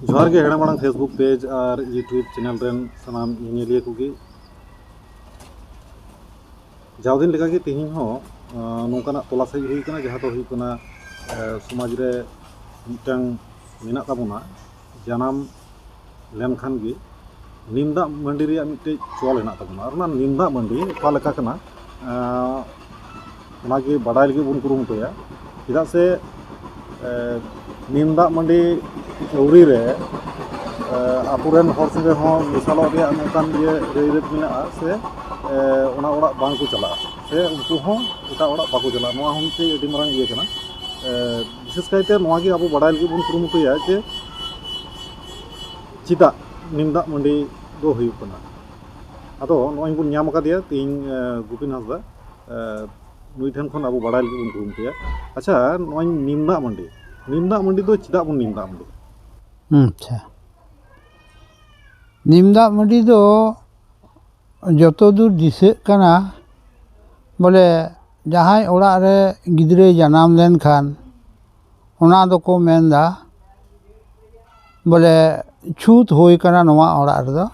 ᱡᱚᱦᱟᱨ ᱜᱮ ᱦᱮᱲᱟ ᱢᱟᱲᱟᱝ ᱯᱷᱮᱥᱵᱩᱠ ᱯᱮᱡᱽ ᱟᱨ ᱤᱭᱩᱴᱩᱵᱽ ᱪᱮᱱᱮᱞ ᱨᱮᱱ ᱥᱟᱱᱟᱢ ᱧᱮᱧᱮᱞᱤᱭᱟᱹ ᱠᱚᱜᱮ ᱡᱟᱣ ᱫᱤᱱ ᱞᱮᱠᱟᱜᱮ ᱛᱮᱦᱮᱧ ᱦᱚᱸ ᱱᱚᱝᱠᱟᱱᱟᱜ ᱛᱚᱞᱟᱥ ᱦᱮᱡ ᱦᱩᱭ ᱠᱟᱱᱟ ᱡᱟᱦᱟᱸ ᱫᱚ ᱦᱩᱭᱩᱜ ᱠᱟᱱᱟ ᱥᱚᱢᱟᱡᱽ ᱨᱮ ᱢᱤᱫᱴᱟᱝ ᱢᱮᱱᱟᱜ ᱛᱟᱵᱚᱱᱟ ᱡᱟᱱᱟᱢ ᱞᱮᱱ ᱠᱷᱟᱱ ᱜᱮ ᱱᱤᱢ ᱫᱟᱜ ᱢᱟᱹᱰᱤ ᱨᱮᱭᱟᱜ ᱢᱤᱫᱴᱮᱡ ᱪᱚᱞ ᱦᱮᱱᱟᱜ ᱛᱟᱵᱚᱱᱟ ᱟᱨ ᱚᱱᱟ ᱱᱤᱢ ᱫᱟᱜ ᱢᱟᱹᱰᱤ ᱚᱠᱟ ᱞᱮᱠᱟ ᱠᱟᱱᱟ ᱚᱱᱟ ᱜᱮ ᱵᱟᱰᱟᱭ ᱞᱟᱹᱜᱤᱫ ᱵᱚᱱ ᱠᱩᱨᱩᱢᱩᱴᱩᱭᱟ ᱪᱮᱫᱟᱜ ᱥᱮ ᱱᱤᱢ ᱫᱟᱜ ᱢᱟᱹᱰᱤ ᱟᱹᱣᱨᱤ ᱨᱮ ᱟᱵᱚ ᱨᱮᱱ ᱦᱚᱲ ᱥᱚᱸᱜᱮ ᱦᱚᱸ ᱢᱮᱥᱟᱞᱚᱜ ᱨᱮᱭᱟᱜ ᱱᱚᱝᱠᱟᱱ ᱤᱭᱟᱹ ᱨᱟᱹᱭ ᱨᱤᱛ ᱢᱮᱱᱟᱜᱼᱟ ᱥᱮ ᱚᱱᱟ ᱚᱲᱟᱜ ᱵᱟᱝ ᱠᱚ ᱪᱟᱞᱟᱜᱼᱟ ᱥᱮ ᱩᱱᱠᱩ ᱦᱚᱸ ᱮᱴᱟᱜ ᱚᱲᱟᱜ ᱵᱟᱠᱚ ᱪᱟᱞᱟᱜᱼᱟ ᱱᱚᱣᱟ ᱦᱚᱸ ᱢᱤᱫᱴᱮᱡ ᱟᱹᱰᱤ ᱢᱟᱨᱟᱝ ᱤᱭᱟᱹ ᱠᱟᱱᱟ ᱵᱤᱥᱮᱥ ᱠᱟᱭᱛᱮ ᱱᱚᱣᱟ ᱜᱮ ᱟᱵᱚ ᱵᱟᱰᱟᱭ ᱞᱟᱹᱜᱤᱫ ᱵᱚᱱ ᱠᱩᱨᱩᱢᱩᱴᱩᱭᱟ ᱡᱮ ᱪᱮᱫᱟᱜ ᱱᱤᱢ ᱫᱟᱜ ᱢᱟᱹᱰᱤ ᱫᱚ ᱦᱩᱭᱩᱜ ᱠᱟᱱᱟ ᱟᱫᱚ ᱱᱚᱜᱼᱚᱭ ᱵᱚᱱ ᱧᱟᱢ ᱟᱠᱟᱫᱮᱭᱟ ᱛᱮᱦᱮᱧ ᱜᱩᱯᱤᱱ ᱦᱟᱸᱥᱫᱟ ᱱᱩᱭ ᱴᱷᱮᱱ ᱠᱷᱚᱱ ᱟᱵᱚ ᱵᱟᱰᱟᱭ ᱞᱟᱹᱜᱤᱫ ᱵᱚᱱ ᱠᱩᱨᱩᱢᱩᱴᱩᱭᱟ ᱟᱪᱪᱷᱟ ᱱᱚᱜᱼᱚᱭ ᱱᱤᱢ ᱫᱟᱜ ᱢᱟᱹᱰᱤ ᱱᱤᱢ ᱫᱟᱜ ᱢᱟᱹᱰᱤ ᱫᱚ ᱪᱮᱫᱟᱜ ᱵᱚᱱ ᱱᱤᱢ ᱫᱟᱜ ᱢᱟᱹᱰᱤ ᱟᱪᱪᱷᱟ ᱱᱤᱢ ᱫᱟᱜ ᱢᱟᱹᱰᱤ ᱫᱚ ᱡᱚᱛᱚ ᱫᱩᱨ ᱫᱤᱥᱟᱹᱜ ᱠᱟᱱᱟ ᱵᱚᱞᱮ ᱡᱟᱦᱟᱸᱭ ᱚᱲᱟᱜ ᱨᱮ ᱜᱤᱫᱽᱨᱟᱹᱭ ᱡᱟᱱᱟᱢ ᱞᱮᱱᱠᱷᱟᱱ ᱚᱱᱟ ᱫᱚᱠᱚ ᱢᱮᱱᱫᱟ ᱵᱚᱞᱮ ᱪᱷᱩᱸᱛ ᱦᱩᱭ ᱠᱟᱱᱟ ᱱᱚᱣᱟ ᱚᱲᱟᱜ ᱨᱮᱫᱚ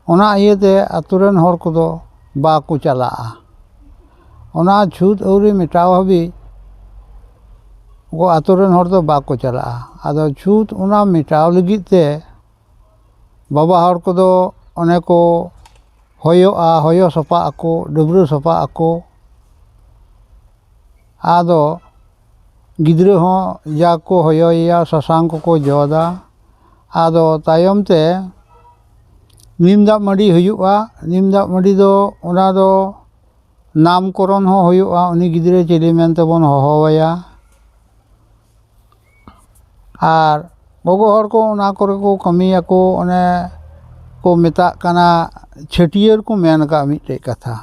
ᱚᱱᱟ ᱤᱭᱟᱹᱛᱮ ᱟᱹᱛᱩ ᱨᱮᱱ ᱦᱚᱲ ᱠᱚᱫᱚ ᱵᱟᱠᱚ ᱪᱟᱞᱟᱜᱼᱟ ᱚᱱᱟ ᱪᱷᱩᱸᱛ ᱟᱹᱣᱨᱤ ᱢᱮᱴᱟᱣ ᱦᱟᱹᱵᱤᱡ ᱟᱹᱛᱩ ᱨᱮᱱ ᱦᱚᱲ ᱫᱚ ᱵᱟᱠᱚ ᱪᱟᱞᱟᱜᱼᱟ ᱟᱫᱚ ᱪᱷᱩᱸᱛ ᱚᱱᱟ ᱢᱮᱴᱟᱣ ᱞᱟᱹᱜᱤᱫ ᱛᱮ ᱵᱟᱵᱟ ᱦᱚᱲ ᱠᱚᱫᱚ ᱚᱱᱮ ᱠᱚ ᱦᱚᱭᱚᱜᱼᱟ ᱦᱚᱭᱚ ᱥᱟᱯᱷᱟᱜ ᱟᱠᱚ ᱰᱟᱹᱵᱽᱨᱟᱹ ᱥᱟᱯᱷᱟᱜ ᱟᱠᱚ ᱟᱫᱚ ᱜᱤᱫᱽᱨᱟᱹ ᱦᱚᱸ ᱡᱟ ᱠᱚ ᱦᱚᱭᱚᱭᱮᱭᱟ ᱥᱟᱥᱟᱝ ᱠᱚᱠᱚ ᱡᱚᱫᱟ ᱟᱫᱚ ᱛᱟᱭᱚᱢ ᱛᱮ ᱱᱤᱢ ᱫᱟᱜ ᱢᱟᱹᱰᱤ ᱦᱩᱭᱩᱜᱼᱟ ᱱᱤᱢ ᱫᱟᱜ ᱢᱟᱹᱰᱤ ᱫᱚ ᱚᱱᱟ ᱫᱚ ᱱᱟᱢᱠᱚᱨᱚᱢ ᱦᱚᱸ ᱦᱩᱭᱩᱜᱼᱟ ᱩᱱᱤ ᱜᱤᱫᱽᱨᱟᱹ ᱪᱤᱞᱤ ᱢᱮᱱᱛᱮᱵᱚᱱ ᱦᱚᱦᱚᱣᱟᱭᱟ ᱟᱨ ᱜᱚᱜᱚ ᱦᱚᱲ ᱠᱚ ᱚᱱᱟ ᱠᱚᱨᱮ ᱠᱚ ᱠᱟᱹᱢᱤᱭᱟᱠᱚ ᱚᱱᱮ ᱠᱚ ᱢᱮᱛᱟᱜ ᱠᱟᱱᱟ ᱪᱷᱟᱹᱴᱭᱟᱹᱨ ᱠᱚ ᱢᱮᱱ ᱠᱟᱜᱼᱟ ᱢᱤᱫᱴᱮᱡ ᱠᱟᱛᱷᱟ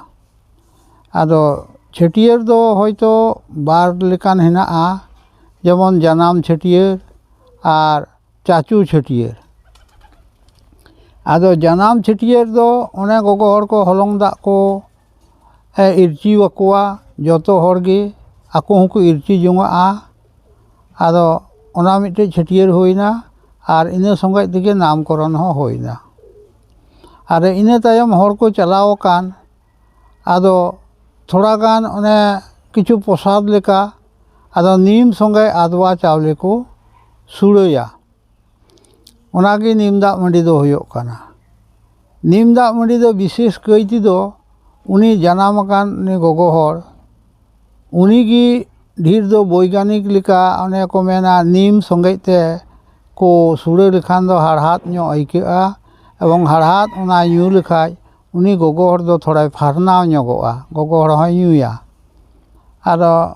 ᱟᱫᱚ ᱪᱷᱟᱹᱴᱭᱟᱹᱨ ᱫᱚ ᱦᱳᱭᱛᱳ ᱵᱟᱨ ᱞᱮᱠᱟᱱ ᱦᱮᱱᱟᱜᱼᱟ ᱡᱮᱢᱚᱱ ᱡᱟᱱᱟᱢ ᱪᱷᱟᱹᱴᱭᱟᱹᱨ ᱟᱨ ᱪᱟᱪᱳ ᱪᱷᱟᱹᱴᱭᱟᱹᱨ ᱟᱫᱚ ᱡᱟᱱᱟᱢ ᱪᱷᱟᱹᱴᱭᱟᱹᱨ ᱫᱚ ᱚᱱᱮ ᱜᱚᱜᱚ ᱦᱚᱲ ᱠᱚ ᱦᱚᱞᱚᱝ ᱫᱟᱜ ᱠᱚ ᱤᱨᱪᱤᱣᱟᱠᱚᱣᱟ ᱡᱚᱛᱚ ᱦᱚᱲ ᱜᱮ ᱟᱠᱚ ᱦᱚᱸᱠᱚ ᱤᱨᱪᱤ ᱡᱚᱱᱟᱜᱼᱟ ᱟᱫᱚ ᱚᱱᱟ ᱢᱤᱫᱴᱮᱡ ᱪᱷᱟᱹᱴᱭᱟᱹᱨ ᱦᱩᱭᱮᱱᱟ ᱟᱨ ᱤᱱᱟᱹ ᱥᱚᱸᱜᱮᱡ ᱛᱮᱜᱮ ᱱᱟᱢᱠᱚᱨᱚᱱ ᱦᱚᱸ ᱦᱩᱭᱮᱱᱟ ᱟᱫᱚ ᱤᱱᱟᱹ ᱛᱟᱭᱚᱢ ᱦᱚᱲ ᱠᱚ ᱪᱟᱞᱟᱣ ᱟᱠᱟᱱ ᱟᱫᱚ ᱛᱷᱚᱲᱟ ᱜᱟᱱ ᱚᱱᱮ ᱠᱤᱪᱷᱩ ᱯᱨᱚᱥᱟᱫ ᱞᱮᱠᱟ ᱟᱫᱚ ᱱᱤᱢ ᱥᱚᱸᱜᱮ ᱟᱫᱽᱣᱟ ᱪᱟᱣᱞᱮ ᱠᱚ ᱥᱩᱲᱟᱹᱭᱟ ᱚᱱᱟᱜᱮ ᱱᱤᱢ ᱫᱟᱜ ᱢᱟᱹᱰᱤ ᱫᱚ ᱦᱩᱭᱩᱜ ᱠᱟᱱᱟ ᱱᱤᱢ ᱫᱟᱜ ᱢᱟᱹᱰᱤ ᱫᱚ ᱵᱤᱥᱮᱥ ᱠᱟᱹᱭ ᱛᱮᱫᱚ ᱩᱱᱤ ᱡᱟᱱᱟᱢ ᱟᱠᱟᱱ ᱩᱱᱤ ᱜᱚᱜᱚ ᱦᱚᱲ ᱩᱱᱤ ᱜᱮ ᱰᱷᱮᱨ ᱫᱚ ᱵᱳᱭᱜᱟᱱᱤᱠ ᱞᱮᱠᱟ ᱚᱱᱮ ᱠᱚ ᱢᱮᱱᱟ ᱱᱤᱢ ᱥᱚᱸᱜᱮ ᱛᱮ ᱠᱚ ᱥᱩᱲᱟᱹ ᱞᱮᱠᱷᱟᱱ ᱫᱚ ᱦᱟᱲᱦᱟᱫ ᱧᱚᱜ ᱟᱹᱭᱠᱟᱹᱜᱼᱟ ᱮᱵᱚᱝ ᱦᱟᱲᱦᱟᱫ ᱚᱱᱟ ᱧᱩ ᱞᱮᱠᱷᱟᱱ ᱩᱱᱤ ᱜᱚᱜᱚ ᱦᱚᱲ ᱫᱚ ᱛᱷᱚᱲᱟᱭ ᱯᱷᱟᱨᱱᱟᱣ ᱧᱚᱜᱚᱜᱼᱟ ᱜᱚᱜᱚ ᱦᱚᱲ ᱦᱚᱸᱭ ᱧᱩᱭᱟ ᱟᱫᱚ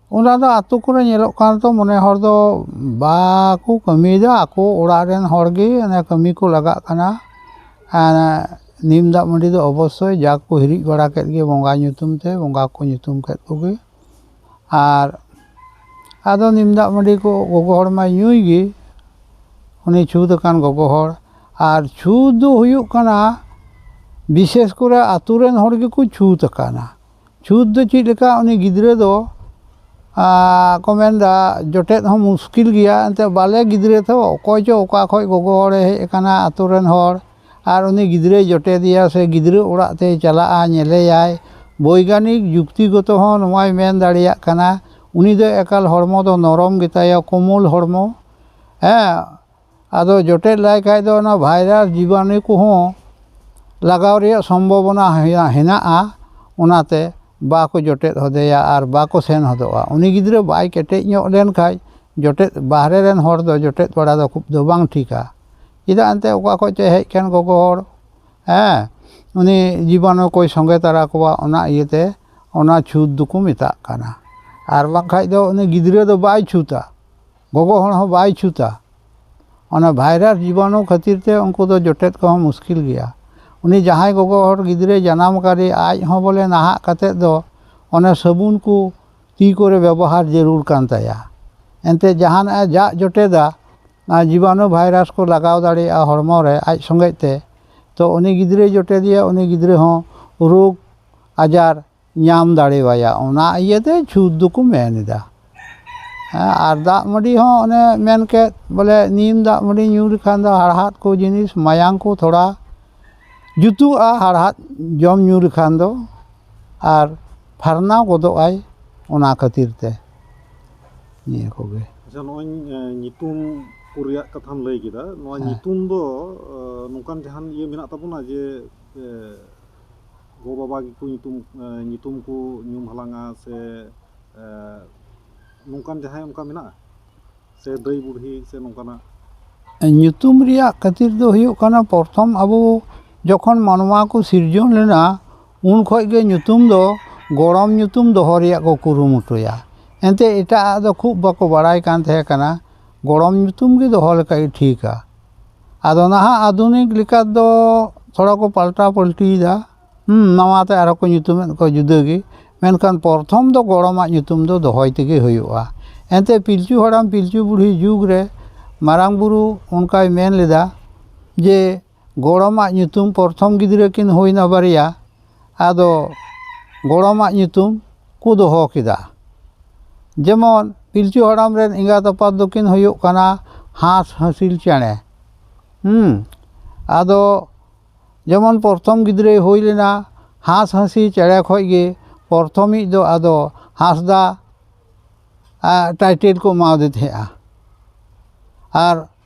ᱚᱱᱟ ᱫᱚ ᱟᱛᱳ ᱠᱚᱨᱮ ᱧᱮᱞᱚᱜ ᱠᱟᱱ ᱫᱚ ᱢᱚᱱᱮ ᱦᱚᱲ ᱫᱚ ᱵᱟᱠᱚ ᱠᱟᱹᱢᱤᱭᱮᱫᱟ ᱟᱠᱚ ᱚᱲᱟᱜ ᱨᱮᱱ ᱦᱚᱲ ᱜᱮ ᱚᱱᱮ ᱠᱟᱹᱢᱤ ᱠᱚ ᱞᱟᱜᱟᱜ ᱠᱟᱱᱟ ᱟᱨ ᱱᱤᱢ ᱫᱟᱜ ᱢᱟᱹᱰᱤ ᱫᱚ ᱚᱵᱚᱥᱥᱳᱭ ᱡᱟ ᱠᱚ ᱦᱤᱨᱤᱡ ᱵᱟᱲᱟ ᱠᱮᱫ ᱜᱮ ᱵᱚᱸᱜᱟ ᱧᱩᱛᱩᱢ ᱛᱮ ᱵᱚᱸᱜᱟ ᱠᱚ ᱧᱩᱛᱩᱢ ᱠᱮᱫ ᱠᱚᱜᱮ ᱟᱨ ᱟᱫᱚ ᱱᱤᱢ ᱫᱟᱜ ᱢᱟᱹᱰᱤ ᱠᱚ ᱜᱚᱜᱚ ᱦᱚᱲ ᱢᱟᱭ ᱧᱩᱭ ᱜᱮ ᱩᱱᱤ ᱪᱷᱩᱸᱛ ᱟᱠᱟᱱ ᱜᱚᱜᱚ ᱦᱚᱲ ᱟᱨ ᱪᱷᱩᱸᱛ ᱫᱚ ᱦᱩᱭᱩᱜ ᱠᱟᱱᱟ ᱵᱤᱥᱮᱥ ᱠᱚᱨᱮ ᱟᱛᱳ ᱨᱮᱱ ᱦᱚᱲ ᱜᱮᱠᱚ ᱪᱷᱩᱸᱛ ᱟᱠᱟᱱᱟ ᱪᱷᱩᱸᱛ ᱫᱚ ᱪᱮᱫ ᱞᱮᱠᱟ ᱩᱱᱤ ᱜᱤᱫᱽᱨᱟᱹ ᱫᱚ ᱠᱚ ᱢᱮᱱᱫᱟ ᱡᱚᱴᱮᱫ ᱦᱚᱸ ᱢᱩᱥᱠᱤᱞ ᱜᱮᱭᱟ ᱮᱱᱛᱮᱫ ᱵᱟᱞᱮ ᱜᱤᱫᱽᱨᱟᱹ ᱛᱚ ᱚᱠᱚᱭ ᱪᱚ ᱚᱠᱟ ᱠᱷᱚᱱ ᱜᱚᱜᱚ ᱦᱚᱲᱮ ᱦᱮᱡ ᱟᱠᱟᱱᱟ ᱟᱹᱛᱩ ᱨᱮᱱ ᱦᱚᱲ ᱟᱨ ᱩᱱᱤ ᱜᱤᱫᱽᱨᱟᱹᱭ ᱡᱚᱴᱮᱫᱮᱭᱟ ᱥᱮ ᱜᱤᱫᱽᱨᱟᱹ ᱚᱲᱟᱜ ᱛᱮᱭ ᱪᱟᱞᱟᱜᱼᱟ ᱧᱮᱞᱮᱭᱟᱭ ᱵᱳᱭᱜᱟᱱᱤᱠ ᱡᱩᱠᱛᱤ ᱜᱚᱛᱚ ᱦᱚᱸ ᱱᱚᱣᱟᱭ ᱢᱮᱱ ᱫᱟᱲᱮᱭᱟᱜ ᱠᱟᱱᱟ ᱩᱱᱤ ᱫᱚ ᱮᱠᱟᱞ ᱦᱚᱲᱢᱚ ᱫᱚ ᱱᱚᱨᱚᱢ ᱜᱮᱛᱟᱭᱟ ᱠᱳᱢᱚᱞ ᱦᱚᱲᱢᱚ ᱦᱮᱸ ᱟᱫᱚ ᱡᱚᱴᱮᱫ ᱞᱟᱭ ᱠᱷᱟᱡ ᱫᱚ ᱚᱱᱟ ᱵᱷᱟᱭᱨᱟᱥ ᱡᱤᱵᱟᱱᱩ ᱠᱚᱦᱚᱸ ᱞᱟᱜᱟᱣ ᱨᱮᱭᱟᱜ ᱥᱚᱢᱵᱷᱚᱵᱚᱱᱟ ᱦᱮᱱᱟᱜᱼᱟ ᱚᱱᱟᱛᱮ ᱵᱟᱠᱚ ᱡᱚᱴᱮᱫ ᱦᱚᱫᱮᱭᱟ ᱟᱨ ᱵᱟᱠᱚ ᱥᱮᱱ ᱦᱚᱫᱚᱜᱼᱟ ᱩᱱᱤ ᱜᱤᱫᱽᱨᱟᱹ ᱵᱟᱭ ᱠᱮᱴᱮᱡ ᱧᱚᱜ ᱞᱮᱱ ᱠᱷᱟᱡ ᱡᱚᱴᱮᱫ ᱵᱟᱦᱨᱮ ᱨᱮᱱ ᱦᱚᱲ ᱫᱚ ᱡᱚᱴᱮᱫ ᱵᱟᱲᱟ ᱫᱚ ᱠᱷᱩᱵ ᱫᱚ ᱵᱟᱝ ᱴᱷᱤᱠᱟ ᱪᱮᱫᱟᱜ ᱮᱱᱛᱮ ᱚᱠᱟ ᱠᱷᱚᱡ ᱪᱚᱭ ᱦᱮᱡ ᱠᱟᱱ ᱜᱚᱜᱚ ᱦᱚᱲ ᱦᱮᱸ ᱩᱱᱤ ᱡᱤᱵᱟᱱᱩ ᱠᱚᱭ ᱥᱚᱸᱜᱮ ᱛᱟᱨᱟ ᱠᱚᱣᱟ ᱚᱱᱟ ᱤᱭᱟᱹᱛᱮ ᱚᱱᱟ ᱪᱷᱩᱸᱛ ᱫᱚᱠᱚ ᱢᱮᱛᱟᱜ ᱠᱟᱱᱟ ᱟᱨ ᱵᱟᱝᱠᱷᱟᱡ ᱫᱚ ᱩᱱᱤ ᱜᱤᱫᱽᱨᱟᱹ ᱫᱚ ᱵᱟᱭ ᱪᱷᱩᱸᱛᱟ ᱜᱚᱜᱚ ᱦᱚᱲ ᱦᱚᱸ ᱵᱟᱭ ᱪᱷᱩᱛᱟ ᱚᱱᱟ ᱵᱷᱟᱭᱨᱟᱥ ᱡᱤᱵᱟᱱᱩ ᱠᱷᱟᱹᱛᱤᱨ ᱛᱮ ᱩᱱᱠᱩ ᱫᱚ ᱡᱚᱴᱮᱫ ᱠᱚᱦᱚᱸ ᱢᱩᱥᱠᱤᱞ ᱜᱮᱭᱟ ᱩᱱᱤ ᱡᱟᱦᱟᱸᱭ ᱜᱚᱜᱚ ᱦᱚᱲ ᱜᱤᱫᱽᱨᱟᱹᱭ ᱡᱟᱱᱟᱢ ᱠᱟᱫᱮ ᱟᱡ ᱦᱚᱸ ᱵᱚᱞᱮ ᱱᱟᱦᱟᱜ ᱠᱟᱛᱮ ᱫᱚ ᱚᱱᱮ ᱥᱟᱹᱵᱩᱱ ᱠᱚ ᱛᱤ ᱠᱚᱨᱮ ᱵᱮᱵᱚᱦᱟᱨ ᱡᱟᱹᱨᱩᱲ ᱠᱟᱱ ᱛᱟᱭᱟ ᱮᱱᱛᱮ ᱡᱟᱦᱟᱱᱟᱜ ᱮ ᱡᱟᱜ ᱡᱚᱴᱮᱫᱟ ᱚᱱᱟ ᱡᱤᱵᱟᱱᱩ ᱵᱷᱟᱭᱨᱟᱥ ᱠᱚ ᱞᱟᱜᱟᱣ ᱫᱟᱲᱮᱭᱟᱜᱼᱟ ᱦᱚᱲᱢᱚ ᱨᱮ ᱟᱡ ᱥᱚᱸᱜᱮ ᱛᱮ ᱛᱚ ᱩᱱᱤ ᱜᱤᱫᱽᱨᱟᱹᱭ ᱡᱚᱴᱮᱫᱮᱭᱟ ᱩᱱᱤ ᱜᱤᱫᱽᱨᱟᱹ ᱦᱚᱸ ᱨᱳᱜᱽ ᱟᱡᱟᱨ ᱧᱟᱢ ᱫᱟᱲᱮ ᱟᱭᱟ ᱚᱱᱟ ᱤᱭᱟᱹ ᱛᱮ ᱪᱷᱩᱸᱛ ᱫᱚᱠᱚ ᱢᱮᱱ ᱮᱫᱟ ᱦᱮᱸ ᱟᱨ ᱫᱟᱜ ᱢᱟᱹᱰᱤ ᱦᱚᱸ ᱚᱱᱮ ᱢᱮᱱ ᱠᱮᱫ ᱵᱚᱞᱮ ᱱᱤᱢ ᱫᱟᱜ ᱢᱟᱹᱰᱤ ᱧᱩ ᱞᱮᱠᱷᱟᱱ ᱫᱚ ᱦᱟᱲᱦᱟᱫ ᱠᱚ ᱡᱤᱱᱤᱥ ᱢᱟᱭᱟᱢ ᱠᱚ ᱛᱷᱚᱲᱟ ᱡᱩᱛᱩᱜᱼᱟ ᱦᱟᱲᱦᱟᱫ ᱡᱚᱢ ᱧᱩ ᱞᱮᱠᱷᱟᱱ ᱫᱚ ᱟᱨ ᱯᱷᱟᱨᱱᱟᱣ ᱜᱚᱫᱚᱜ ᱟᱭ ᱚᱱᱟ ᱠᱷᱟᱹᱛᱤᱨ ᱛᱮ ᱱᱤᱭᱟᱹ ᱠᱚᱜᱮ ᱟᱪᱪᱷᱟ ᱱᱚᱜᱼᱚᱭ ᱧᱩᱛᱩᱢ ᱠᱚ ᱨᱮᱭᱟᱜ ᱠᱟᱛᱷᱟᱢ ᱞᱟᱹᱭ ᱠᱮᱫᱟ ᱱᱚᱣᱟ ᱧᱩᱛᱩᱢ ᱫᱚ ᱱᱚᱝᱠᱟᱱ ᱡᱟᱦᱟᱱ ᱤᱭᱟᱹ ᱢᱮᱱᱟᱜ ᱛᱟᱵᱚᱱᱟ ᱡᱮ ᱜᱚ ᱵᱟᱵᱟ ᱜᱮᱠᱚ ᱧᱩᱛᱩᱢ ᱧᱩᱛᱩᱢ ᱠᱚ ᱧᱩᱢ ᱦᱟᱞᱟᱝᱼᱟ ᱥᱮ ᱱᱚᱝᱠᱟᱱ ᱡᱟᱦᱟᱸᱭ ᱚᱱᱠᱟ ᱢᱮᱱᱟᱜᱼᱟ ᱥᱮ ᱫᱟᱹᱭ ᱵᱩᱰᱷᱤ ᱥᱮ ᱱᱚᱝᱠᱟᱱᱟᱜ ᱧᱩᱛᱩᱢ ᱨᱮᱭᱟᱜ ᱠᱷᱟᱹᱛᱤᱨ ᱫᱚ ᱦᱩᱭᱩᱜ ᱠᱟᱱᱟ ᱯᱨᱚᱛᱷᱚᱢ ᱟᱵᱚ ᱡᱚᱠᱷᱚᱱ ᱢᱟᱱᱣᱟ ᱠᱚ ᱥᱤᱨᱡᱚᱱ ᱞᱮᱱᱟ ᱩᱱ ᱠᱷᱚᱱ ᱜᱮ ᱧᱩᱛᱩᱢ ᱫᱚ ᱜᱚᱲᱚᱢ ᱧᱩᱛᱩᱢ ᱫᱚᱦᱚ ᱨᱮᱭᱟᱜ ᱠᱚ ᱠᱩᱨᱩᱢᱩᱴᱩᱭᱟ ᱮᱱᱛᱮ ᱮᱴᱟᱜ ᱟᱜ ᱫᱚ ᱠᱷᱩᱵ ᱵᱟᱠᱚ ᱵᱟᱲᱟᱭ ᱠᱟᱱ ᱛᱟᱦᱮᱸ ᱠᱟᱱᱟ ᱜᱚᱲᱚᱢ ᱧᱩᱛᱩᱢ ᱜᱮ ᱫᱚᱦᱚ ᱞᱮᱠᱷᱟᱡ ᱜᱮ ᱴᱷᱤᱠᱼᱟ ᱟᱫᱚ ᱱᱟᱦᱟᱜ ᱟᱫᱷᱩᱱᱤᱠ ᱞᱮᱠᱟ ᱫᱚ ᱛᱷᱚᱲᱟ ᱠᱚ ᱯᱟᱞᱴᱟᱣ ᱯᱟᱹᱞᱴᱤᱭᱮᱫᱟ ᱱᱟᱣᱟ ᱛᱮ ᱟᱨᱚ ᱠᱚ ᱧᱩᱛᱩᱢᱮᱫ ᱠᱚᱣᱟ ᱡᱩᱫᱟᱹ ᱜᱮ ᱢᱮᱱᱠᱷᱟᱱ ᱯᱨᱚᱛᱷᱚᱢ ᱫᱚ ᱜᱚᱲᱚᱢᱟᱜ ᱧᱩᱛᱩᱢ ᱫᱚ ᱫᱚᱦᱚᱭ ᱛᱮᱜᱮ ᱦᱩᱭᱩᱜᱼᱟ ᱮᱱᱛᱮ ᱯᱤᱞᱪᱩ ᱦᱟᱲᱟᱢ ᱯᱤᱞᱪᱩ ᱵᱩᱲᱦᱤ ᱡᱩᱜᱽ ᱨᱮ ᱢᱟᱨᱟᱝ ᱵᱳᱨᱳ ᱚᱱᱠᱟᱭ ᱢᱮᱱ ᱞᱮᱫᱟ ᱡᱮ ᱜᱚᱲᱚᱢᱟᱜ ᱧᱩᱛᱩᱢ ᱯᱨᱚᱛᱷᱚᱢ ᱜᱤᱫᱽᱨᱟᱹ ᱠᱤᱱ ᱦᱩᱭᱱᱟ ᱵᱟᱨᱭᱟ ᱟᱫᱚ ᱜᱚᱲᱚᱢᱟᱜ ᱧᱩᱛᱩᱢ ᱠᱚ ᱫᱚᱦᱚ ᱠᱮᱫᱟ ᱡᱮᱢᱚᱱ ᱯᱤᱞᱪᱩ ᱦᱟᱲᱟᱢ ᱨᱮᱱ ᱮᱸᱜᱟᱛ ᱟᱯᱟᱛ ᱫᱚᱠᱤᱱ ᱦᱩᱭᱩᱜ ᱠᱟᱱᱟ ᱦᱟᱸᱥᱼᱦᱟᱺᱥᱤᱞ ᱪᱮᱬᱮ ᱟᱫᱚ ᱡᱮᱢᱚᱱ ᱯᱨᱚᱛᱷᱚᱢ ᱜᱤᱫᱽᱨᱟᱹᱭ ᱦᱩᱭ ᱞᱮᱱᱟ ᱦᱟᱸᱥᱼᱦᱟᱺᱥᱤᱞ ᱪᱮᱬᱮ ᱠᱷᱚᱱ ᱜᱮ ᱯᱨᱚᱛᱷᱚᱢᱤᱡ ᱫᱚ ᱟᱫᱚ ᱦᱟᱸᱥᱫᱟ ᱴᱟᱭᱴᱮᱞ ᱠᱚ ᱮᱢᱟᱣᱟᱫᱮ ᱛᱟᱦᱮᱸᱫᱼᱟ ᱟᱨ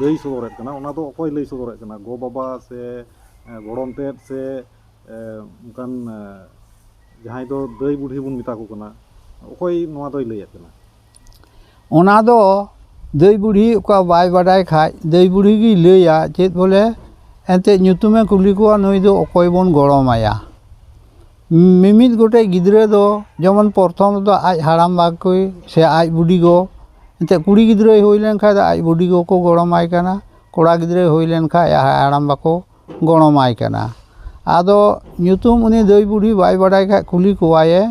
ᱞᱟᱹᱭ ᱥᱚᱫᱚᱨᱮᱫ ᱠᱟᱱᱟ ᱚᱱᱟ ᱫᱚ ᱚᱠᱚᱭ ᱞᱟᱹᱭ ᱥᱚᱫᱚᱨᱮᱫ ᱠᱟᱱᱟ ᱜᱚ ᱵᱟᱵᱟ ᱥᱮ ᱜᱚᱲᱚᱢ ᱛᱮᱫ ᱥᱮ ᱚᱱᱠᱟᱱ ᱡᱟᱦᱟᱸᱭ ᱫᱚ ᱫᱟᱹᱭ ᱵᱩᱰᱷᱤ ᱵᱚᱱ ᱢᱮᱛᱟ ᱠᱚ ᱠᱟᱱᱟ ᱚᱠᱚᱭ ᱱᱚᱣᱟ ᱫᱚᱭ ᱞᱟᱹᱭᱮᱫ ᱠᱟᱱᱟ ᱚᱱᱟ ᱫᱚ ᱫᱟᱹᱭ ᱵᱩᱰᱷᱤ ᱚᱠᱟ ᱵᱟᱭ ᱵᱟᱰᱟᱭ ᱠᱷᱟᱡ ᱫᱟᱹᱭ ᱵᱩᱰᱷᱤ ᱜᱮᱭ ᱞᱟᱹᱭᱟ ᱪᱮᱫ ᱵᱚᱞᱮ ᱮᱱᱛᱮᱫ ᱧᱩᱛᱩᱢᱮ ᱠᱩᱞᱤ ᱠᱚᱣᱟ ᱱᱩᱭ ᱫᱚ ᱚᱠᱚᱭ ᱵᱚᱱ ᱜᱚᱲᱚᱢᱟᱭᱟ ᱢᱤᱢᱤᱫ ᱜᱚᱴᱮᱡ ᱜᱤᱫᱽᱨᱟᱹ ᱫᱚ ᱡᱮᱢᱚᱱ ᱯᱨᱚᱛᱷᱚᱢ ᱨᱮᱫᱚ ᱟᱡ ᱦᱟᱲᱟᱢ ᱵᱟ ᱠᱚ ᱥᱮ ᱟᱡ ᱵᱩᱰᱤ ᱜᱚ ᱮᱱᱛᱮᱫ ᱠᱩᱲᱤ ᱜᱤᱫᱽᱨᱟᱹᱭ ᱦᱩᱭ ᱞᱮᱱᱠᱷᱟᱱ ᱫᱚ ᱟᱡ ᱵᱩᱰᱤ ᱜᱚ ᱠᱚ ᱜᱚᱲᱚᱢ ᱟᱭ ᱠᱟᱱᱟ ᱠᱚᱲᱟ ᱜᱤᱫᱽᱨᱟᱹᱭ ᱦᱩᱭ ᱞᱮᱱᱠᱷᱟᱱ ᱟᱡ ᱦᱟᱲᱟᱢ ᱵᱟ ᱠᱚ ᱜᱚᱲᱚᱢ ᱟᱭ ᱠᱟᱱᱟ ᱟᱫᱚ ᱧᱩᱛᱩᱢ ᱩᱱᱤ ᱫᱷᱟᱹᱭ ᱵᱩᱰᱷᱤ ᱵᱟᱭ ᱵᱟᱲᱟᱭ ᱠᱷᱟᱱ ᱠᱩᱞᱤ ᱠᱚᱣᱟᱭᱮ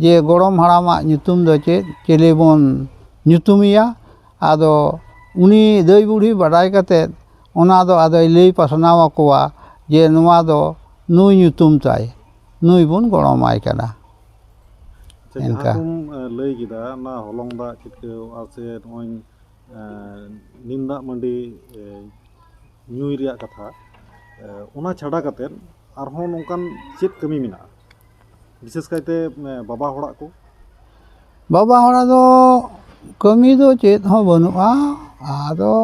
ᱡᱮ ᱜᱚᱲᱚᱢ ᱦᱟᱲᱟᱢᱟᱜ ᱧᱩᱛᱩᱢ ᱫᱚ ᱪᱮᱫ ᱪᱤᱞᱤ ᱵᱚᱱ ᱧᱩᱛᱩᱢᱮᱭᱟ ᱟᱫᱚ ᱩᱱᱤ ᱫᱷᱟᱹᱭ ᱵᱩᱰᱷᱤ ᱵᱟᱰᱟᱭ ᱠᱟᱛᱮᱫ ᱚᱱᱟ ᱫᱚ ᱟᱫᱚᱭ ᱞᱟᱹᱭ ᱯᱟᱥᱱᱟᱣ ᱟᱠᱚᱣᱟ ᱡᱮ ᱱᱚᱣᱟ ᱫᱚ ᱱᱩᱭ ᱧᱩᱛᱩᱢ ᱛᱟᱭ ᱱᱩᱭ ᱵᱚᱱ ᱜᱚᱲᱚᱢ ᱟᱭ ᱠᱟᱱᱟ ᱟᱪᱪᱷᱟ ᱡᱟᱦᱟᱸ ᱮᱱᱠᱟ᱾ ᱠᱚᱢ ᱮ, ᱞᱟᱹᱭ ᱠᱮᱫᱟ ᱚᱱᱟ ᱦᱚᱞᱚᱝ ᱫᱟᱜ ᱪᱤᱴᱠᱟᱹᱣᱚᱜᱼᱟ ᱥᱮ ᱱᱚᱜᱼᱚᱭ ᱮ, ᱱᱤᱢ ᱫᱟᱜ ᱢᱟᱹᱰᱤ ᱮ, ᱧᱩᱭ ᱨᱮᱭᱟᱜ ᱠᱟᱛᱷᱟ ᱮ, ᱚᱱᱟ ᱪᱷᱟᱰᱟ ᱠᱟᱛᱮᱫ ᱟᱨᱦᱚᱸ ᱱᱚᱝᱠᱟᱱ ᱪᱮᱫ ᱠᱟᱹᱢᱤ ᱢᱮᱱᱟᱜᱼᱟ ᱵᱤᱥᱮᱥ ᱠᱟᱭᱛᱮ ᱮ, ᱵᱟᱵᱟ ᱦᱚᱲᱟᱜ ᱠᱚ ᱵᱟᱵᱟ ᱦᱚᱲᱟᱜ ᱫᱚ ᱠᱟᱹᱢᱤ ᱫᱚ ᱪᱮᱫ ᱦᱚᱸ ᱵᱟᱹᱱᱩᱜᱼᱟ ᱟᱫᱚ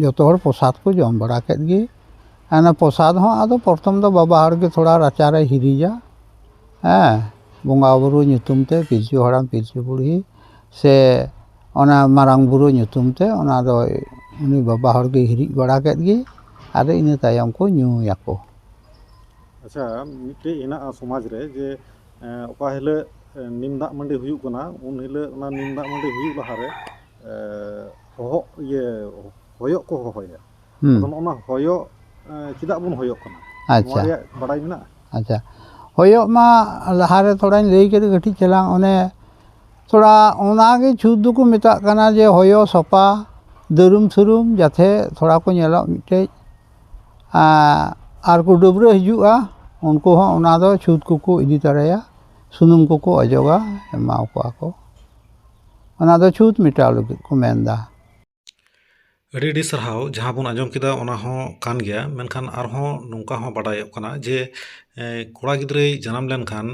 ᱡᱚᱛᱚ ᱦᱚᱲ ᱯᱨᱚᱥᱟᱫᱽ ᱠᱚ ᱡᱚᱢ ᱵᱟᱲᱟ ᱠᱮᱫ ᱜᱮ ᱟᱨ ᱚᱱᱟ ᱯᱨᱚᱥᱟᱫᱽ ᱦᱚᱸ ᱟᱫᱚ ᱯᱨᱚᱛᱷᱚᱢ ᱫᱚ ᱵᱟᱵᱟ ᱦᱚᱲ ᱜᱮ ᱛᱷᱚᱲᱟ ᱨᱟᱪᱟ ᱨᱮᱭ ᱦᱤᱨᱤᱡᱟ ᱦᱮᱸ ᱵᱚᱸᱜᱟ ᱵᱳᱨᱳ ᱧᱩᱛᱩᱢ ᱛᱮ ᱯᱤᱞᱪᱩ ᱦᱟᱲᱟᱢ ᱯᱤᱞᱪᱩ ᱵᱩᱲᱦᱤ ᱥᱮ ᱚᱱᱟ ᱢᱟᱨᱟᱝ ᱵᱳᱨᱳ ᱧᱩᱛᱩᱢ ᱛᱮ ᱚᱱᱟ ᱫᱚᱭ ᱩᱱᱤ ᱵᱟᱵᱟ ᱦᱚᱲ ᱜᱮᱭ ᱦᱤᱨᱤᱡ ᱵᱟᱲᱟ ᱠᱮᱫ ᱜᱮ ᱟᱫᱚ ᱤᱱᱟᱹ ᱛᱟᱭᱚᱢ ᱠᱚ ᱧᱩᱭᱟᱠᱚ ᱟᱪᱪᱷᱟ ᱢᱤᱫᱴᱮᱡ ᱦᱮᱱᱟᱜᱼᱟ ᱥᱚᱢᱟᱡᱽ ᱨᱮ ᱡᱮ ᱚᱠᱟ ᱦᱤᱞᱳᱜ ᱱᱤᱢ ᱫᱟᱜ ᱢᱟᱹᱰᱤ ᱦᱩᱭᱩᱜ ᱠᱟᱱᱟ ᱩᱱ ᱦᱤᱞᱳᱜ ᱚᱱᱟ ᱱᱤᱢ ᱫᱟᱜ ᱢᱟᱹᱰᱤ ᱦᱩᱭᱩᱜ ᱞᱟᱦᱟᱨᱮ ᱦᱚᱦᱚᱜ ᱤᱭᱟᱹ ᱦᱚᱭᱚᱜ ᱠᱚ ᱦᱚᱦᱚᱭᱟ ᱦᱩᱸ ᱟᱫᱚ ᱱᱚᱜᱼᱚ ᱱᱟ ᱦᱚᱭᱚᱜ ᱮᱸ, ᱪᱮᱫᱟᱜ ᱵᱚᱱ ᱦᱚᱭᱚᱜ ᱠᱟᱱᱟ ᱱᱚᱣᱟ ᱟᱪᱪᱷᱟ ᱨᱮᱭᱟᱜ ᱵᱟᱰᱟᱭ ᱢᱮᱱᱟᱜᱼᱟ ᱟᱪᱪᱷᱟ ᱦᱚᱭᱚᱜ ᱢᱟ ᱞᱟᱦᱟᱨᱮ ᱛᱷᱚᱲᱟᱧ ᱞᱟᱹᱭ ᱠᱮᱫ ᱠᱟᱹᱴᱤᱡ ᱪᱟᱞᱟᱝ ᱚᱱᱮ ᱛᱷᱚᱲᱟ ᱚᱱᱟᱜᱮ ᱪᱷᱩᱛ ᱫᱚᱠᱚ ᱢᱮᱛᱟᱜ ᱠᱟᱱᱟ ᱡᱮ ᱦᱚᱭᱚ ᱥᱚᱯᱟ ᱫᱟᱹᱨᱩᱢ ᱥᱩᱨᱩᱢ ᱡᱟᱛᱮ ᱛᱷᱚᱲᱟ ᱠᱚ ᱧᱮᱞᱚᱜ ᱢᱤᱫᱴᱮᱡ ᱟᱸ, ᱟᱨ ᱠᱚ ᱰᱟᱹᱵᱽᱨᱟᱹ ᱦᱤᱡᱩᱜᱼᱟ ᱩᱱᱠᱩ ᱦᱚᱸ ᱚᱱᱟ ᱫᱚ ᱪᱷᱩᱛ ᱠᱚᱠᱚ ᱤᱫᱤ ᱛᱚᱨᱟᱭᱟ ᱥᱩᱱᱩᱢ ᱠᱚᱠᱚ ᱚᱡᱚᱜᱟ ᱮᱢᱟᱣ ᱠᱚᱣᱟ ᱠᱚ ᱚᱱᱟ ᱫᱚ ᱪᱷᱩᱸᱛ ᱢᱮᱴᱟᱣ ᱞᱟᱹᱜᱤᱫ ᱠᱚ ᱢᱮᱱᱫᱟ ᱟᱹᱰᱤ ᱟᱹᱰᱤ ᱥᱟᱨᱦᱟᱣ ᱡᱟᱦᱟᱸ ᱵᱚᱱ ᱟᱸᱡᱚᱢ ᱠᱮᱫᱟ ᱚᱱᱟ ᱦᱚᱸ ᱠᱟᱱ ᱜᱮᱭᱟ ᱢᱮᱱᱠᱷᱟᱱ ᱟᱨᱦᱚᱸ ᱱᱚᱝᱠᱟ ᱦᱚᱸ ᱵᱟᱰᱟᱭᱚᱜ ᱠᱟᱱᱟ ᱡᱮ ᱠᱚᱲᱟ ᱜᱤᱫᱽᱨᱟᱹᱭ ᱡᱟᱱᱟᱢ ᱞᱮᱱᱠᱷᱟᱱ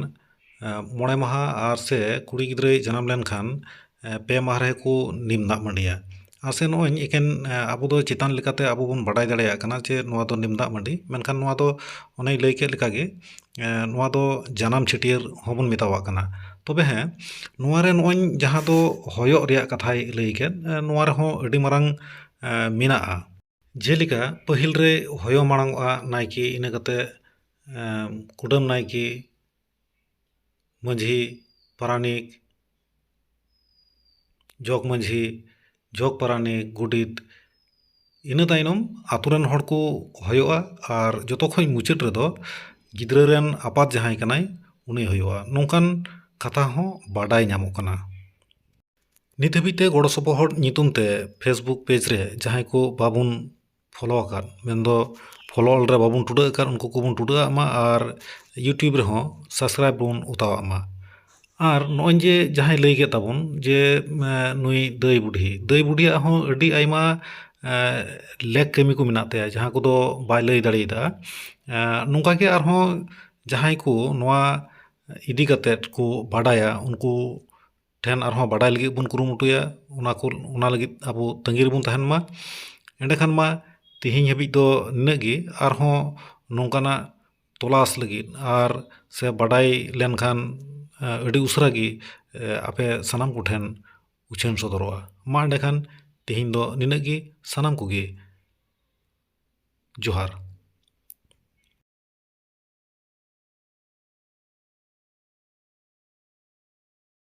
ᱢᱚᱬᱮ ᱢᱟᱦᱟ ᱟᱨ ᱥᱮ ᱠᱩᱲᱤ ᱜᱤᱫᱽᱨᱟᱹᱭ ᱡᱟᱱᱟᱢ ᱞᱮᱱᱠᱷᱟᱱ ᱯᱮ ᱢᱟᱦᱟ ᱨᱮᱠᱚ ᱱᱤᱢ ᱫᱟᱜ ᱢᱟᱹᱰᱤᱭᱟ ᱟᱥᱮ ᱱᱚᱜᱼᱚᱭ ᱮᱠᱮᱱ ᱟᱵᱚ ᱫᱚ ᱪᱮᱛᱟᱱ ᱞᱮᱠᱟᱛᱮ ᱟᱵᱚ ᱵᱚᱱ ᱵᱟᱰᱟᱭ ᱫᱟᱲᱮᱭᱟᱜ ᱠᱟᱱᱟ ᱡᱮ ᱱᱚᱣᱟ ᱫᱚ ᱱᱤᱢ ᱫᱟᱜ ᱢᱟᱹᱰᱤ ᱢᱮᱱᱠᱷᱟᱱ ᱱᱚᱣᱟ ᱫᱚ ᱚᱱᱮᱧ ᱞᱟᱹᱭ ᱠᱮᱫ ᱞᱮᱠᱟᱜᱮ ᱱᱚᱣᱟ ᱫᱚ ᱡᱟᱱᱟᱢ ᱪᱷᱟᱹᱴᱭᱟᱹᱨ ᱦᱚᱸᱵᱚᱱ ᱢᱮᱛᱟᱣᱟᱜ ᱠᱟᱱᱟ ᱛᱚᱵᱮ ᱦᱮᱸ ᱱᱚᱣᱟ ᱨᱮ ᱱᱚᱜᱼᱚᱭ ᱡᱟᱦᱟᱸ ᱫᱚ ᱦᱚᱭᱚᱜ ᱨᱮᱭᱟᱜ ᱠᱟᱛᱷᱟᱭ ᱞᱟᱹᱭ ᱠᱮᱫ ᱱᱚᱣᱟ ᱨᱮᱦᱚᱸ ᱟᱹᱰᱤ ᱢᱟᱨᱟᱝ ᱢᱮᱱᱟᱜᱼᱟ ᱡᱮᱞᱮᱠᱟ ᱯᱟᱹᱦᱤᱞ ᱨᱮ ᱦᱚᱭᱚ ᱢᱟᱲᱟᱝ ᱚᱜᱼᱟ ᱱᱟᱭᱠᱮ ᱤᱱᱟᱹ ᱠᱟᱛᱮᱫ ᱠᱩᱰᱟᱹᱢ ᱱᱟᱭᱠᱮ ᱢᱟᱹᱡᱷᱤ ᱯᱟᱨᱟᱱᱤᱠ ᱡᱚᱜᱽ ᱢᱟᱹᱡᱷᱤ ᱡᱚᱜᱽ ᱯᱟᱨᱟᱱᱤᱠ ᱜᱚᱰᱮᱛ ᱤᱱᱟᱹ ᱛᱟᱭᱱᱚᱢ ᱟᱹᱛᱩ ᱨᱮᱱ ᱦᱚᱲ ᱠᱚ ᱦᱚᱭᱚᱜᱼᱟ ᱟᱨ ᱡᱚᱛᱚ ᱠᱷᱚᱱ ᱢᱩᱪᱟᱹᱫ ᱨᱮᱫᱚ ᱜᱤᱫᱽᱨᱟᱹ ᱨᱮᱱ ᱟᱯᱟᱛ ᱡᱟᱦᱟᱸᱭ ᱠᱟᱱᱟᱭ ᱩᱱᱤ ᱦᱩᱭᱩᱜᱼᱟ ᱱᱚᱝᱠᱟᱱ ᱠᱟᱛᱷᱟ ᱦᱚᱸ ᱵᱟᱰᱟᱭ ᱧᱟᱢᱚᱜ ᱠᱟᱱᱟ ᱱᱤᱛ ᱦᱟᱹᱵᱤᱡ ᱛᱮ ᱜᱚᱲᱚ ᱥᱚᱯᱚᱦᱚᱫ ᱧᱩᱛᱩᱢ ᱛᱮ ᱯᱷᱮᱥᱵᱩᱠ ᱯᱮᱡᱽ ᱨᱮ ᱡᱟᱦᱟᱸᱭ ᱠᱚ ᱵᱟᱵᱚᱱ ᱯᱷᱳᱞᱳ ᱟᱠᱟᱫ ᱢᱮᱱᱫᱚ ᱯᱷᱳᱞᱳ ᱚᱞ ᱨᱮ ᱵᱟᱵᱚᱱ ᱴᱩᱰᱟᱹᱜ ᱟᱠᱟᱫ ᱩᱱᱠᱩ ᱠᱚᱵᱚᱱ ᱴᱩᱰᱟᱹᱜ ᱟᱜ ᱢᱟ ᱟᱨ ᱤᱭᱩᱴᱩᱵᱽ ᱨᱮᱦᱚᱸ ᱥᱟᱵᱥᱠᱨᱟᱭᱤᱵᱽ ᱵᱚᱱ ᱚᱛᱟ ᱟᱜ ᱢᱟ ᱟᱨ ᱱᱚᱜᱼᱚᱭ ᱡᱮ ᱡᱟᱦᱟᱸᱭ ᱞᱟᱹᱭ ᱠᱮᱫ ᱛᱟᱵᱚᱱ ᱡᱮ ᱱᱩᱭ ᱫᱟᱹᱭ ᱵᱩᱰᱷᱤ ᱫᱟᱹᱭ ᱵᱩᱰᱷᱤᱭᱟᱜ ᱦᱚᱸ ᱟᱹᱰᱤ ᱟᱭᱢᱟ ᱞᱮᱠ ᱠᱟᱹᱢᱤ ᱠᱚ ᱢᱮᱱᱟᱜ ᱛᱟᱭᱟ ᱡᱟᱦᱟᱸ ᱠᱚᱫᱚ ᱵᱟᱭ ᱞᱟᱹᱭ ᱫᱟᱲᱮᱭᱟᱫᱟ ᱱᱚᱝᱠᱟ ᱜᱮ ᱟᱨᱦᱚᱸ ᱡᱟᱦᱟᱸᱭ ᱠᱚ ᱱᱚᱣᱟ ᱤᱫᱤ ᱠᱟᱛᱮᱫ ᱠᱚ ᱵᱟᱰᱟᱭᱟ ᱩᱱᱠᱩ ᱴᱷᱮᱱ ᱟᱨᱦᱚᱸ ᱵᱟᱰᱟᱭ ᱞᱟᱹᱜᱤᱫ ᱵᱚᱱ ᱠᱩᱨᱩᱢᱩᱴᱩᱭᱟ ᱚᱱᱟ ᱠᱚ ᱚᱱᱟ ᱞᱟᱹᱜᱤᱫ ᱟᱵᱚ ᱛᱟᱺᱜᱤ ᱨᱮᱵᱚᱱ ᱛᱟᱦᱮᱱ ᱢᱟ ᱮᱸᱰᱮ ᱠᱷᱟᱱ ᱢᱟ ᱛᱮᱦᱮᱧ ᱦᱟᱹᱵᱤᱡ ᱫᱚ ᱱᱤᱱᱟᱹᱜ ᱜᱮ ᱟᱨᱦᱚᱸ ᱱᱚᱝᱠᱟᱱᱟᱜ ᱛᱚᱞᱟᱥ ᱞᱟᱹᱜᱤᱫ ᱟᱨ ᱥᱮ ᱵᱟᱰᱟᱭ ᱞᱮᱱᱠᱷᱟᱱ ᱟᱹᱰᱤ ᱩᱥᱟᱹᱨᱟ ᱜᱮ ᱟᱯᱮ ᱥᱟᱱᱟᱢ ᱠᱚᱴᱷᱮᱱ ᱩᱪᱷᱟᱹᱱ ᱥᱚᱫᱚᱨᱚᱜᱼᱟ ᱢᱟ ᱮᱸᱰᱮ ᱠᱷᱟᱱ ᱛᱮᱦᱮᱧ ᱫᱚ ᱱᱤᱱᱟᱹᱜ ᱜᱮ ᱥᱟᱱᱟᱢ ᱠᱚᱜᱮ ᱡᱚᱦᱟᱨ